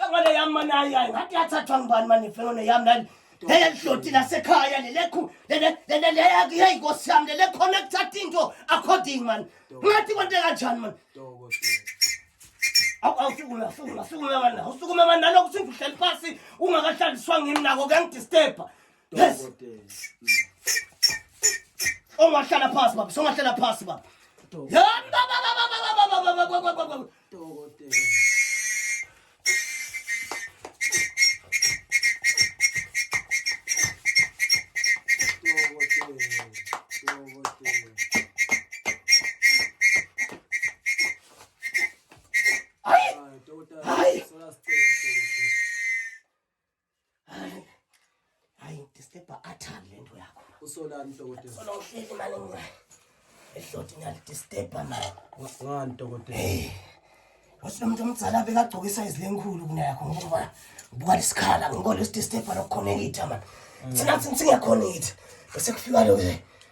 Ngale yami manayi ayi ngathi yathathwa ngubani mani ifenone yami lali lele lihloti lasekhaya lelekhu leleyakuye inkosi yami lelekhona kuthatha into according mani ngathi kwente kanjani mani awusukuma sukuma sukuma bana usukuma bana nalokhu sintu uhleli phansi ungakahlaliswa ngimi nako kuyangidisturba yes ongahlala phansi baba songahlala phansi baba usolani dokotela sola uhleli mani mina ehloti ngiyalidisturba mani ngani dokotela wathi nomuntu omdala bekagcoka isayizi lenkhulu kuneyakho ngoba ubuka lesikhala ngikho lesidisturba lokukhonekitha mani thina thina singekhonekitha bese kufika lo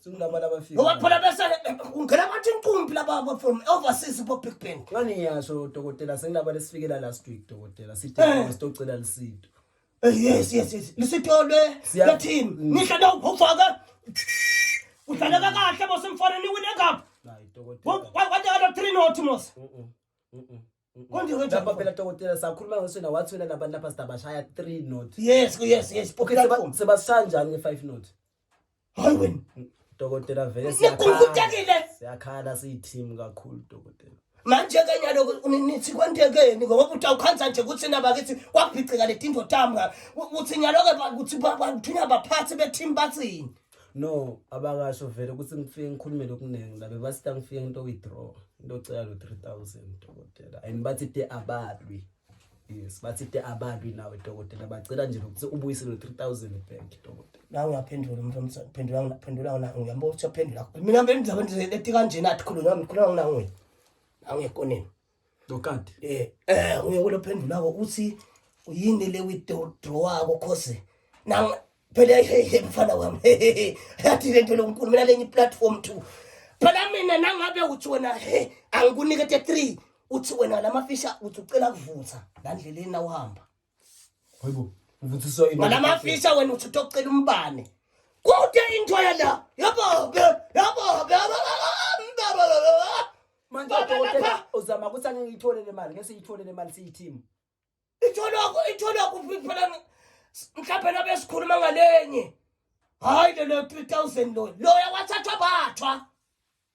Singilaba laba fika. Ngoba phela bese ungena bathi inkumbi laba from overseas bo Big Band. Ngani ngiyasho dokotela sengilaba lesifikela last week dokotela sithe eh. sitocela lisitho. Eh, yes yes yes. Lisitho le le team. Mm. Ngisho na ufaka. Udlaleka kahle bosimfana niwine cup. Hayi dokotela. Wathi ala 3 no Timos. Mhm. Mhm. Konje konje lapha phela dokotela sakhuluma ngaso na wathi wena labantu lapha sidabashaya 3 note. Yes, yes, yes. Okay, sebashaya njani nge 5 note? Hayi wena. Dokotela vele siyakhala. Siyakhala siyi team kakhulu dokotela. Manje ke nyalo nithi kwantekeni ngoba uthi awukhanza nje ukuthi naba kithi kwabhicika letinto tami ukuthi nyalo ke ukuthi bathunya baphathi be team bathini. no abakasho vele ukuthi ngifike ngikhulume lokuningi la bebasita ngifike ngito withdraw into ocela lo 3000 dokotela and bathi te abalwi yes bathi te abalwi nawe dokotela bacela nje lokuthi ubuyise lo 3000 back dokotela la uyaphendula umuntu omsana phendula ngiphendula ngona uyamba ukuthi uyaphendula mina ngempela ngizabe ngilethi kanjena athi khuluma ngikhuluma ngona nguye awuyekoneni Dokati. Eh, eh uye kulophendula ko uthi uyini le withdraw wako cause na phela hey mfana wami. Yathi lento lonkulu mina lenye platform 2. Phela mina nangabe uthi wena hey angikunike 3 uthi wena lamafisha uthi ucela kuvutha ngandleleni awuhamba. Hayibo. Uvuthiswa yini? Wena mafisa wena uthi utocela umbane. Kude into yala. Yabo, yabo, yabo. Manje udokotela uzama ukuthi angeke ngiyithole le mali, ngeke siyithole le mali siyi-team. Itholwa itholwa kuphi phela mhlawumbe nabe sikhuluma ngalenye. Hayi lo 3000 lo. Loya wathathwa bathwa.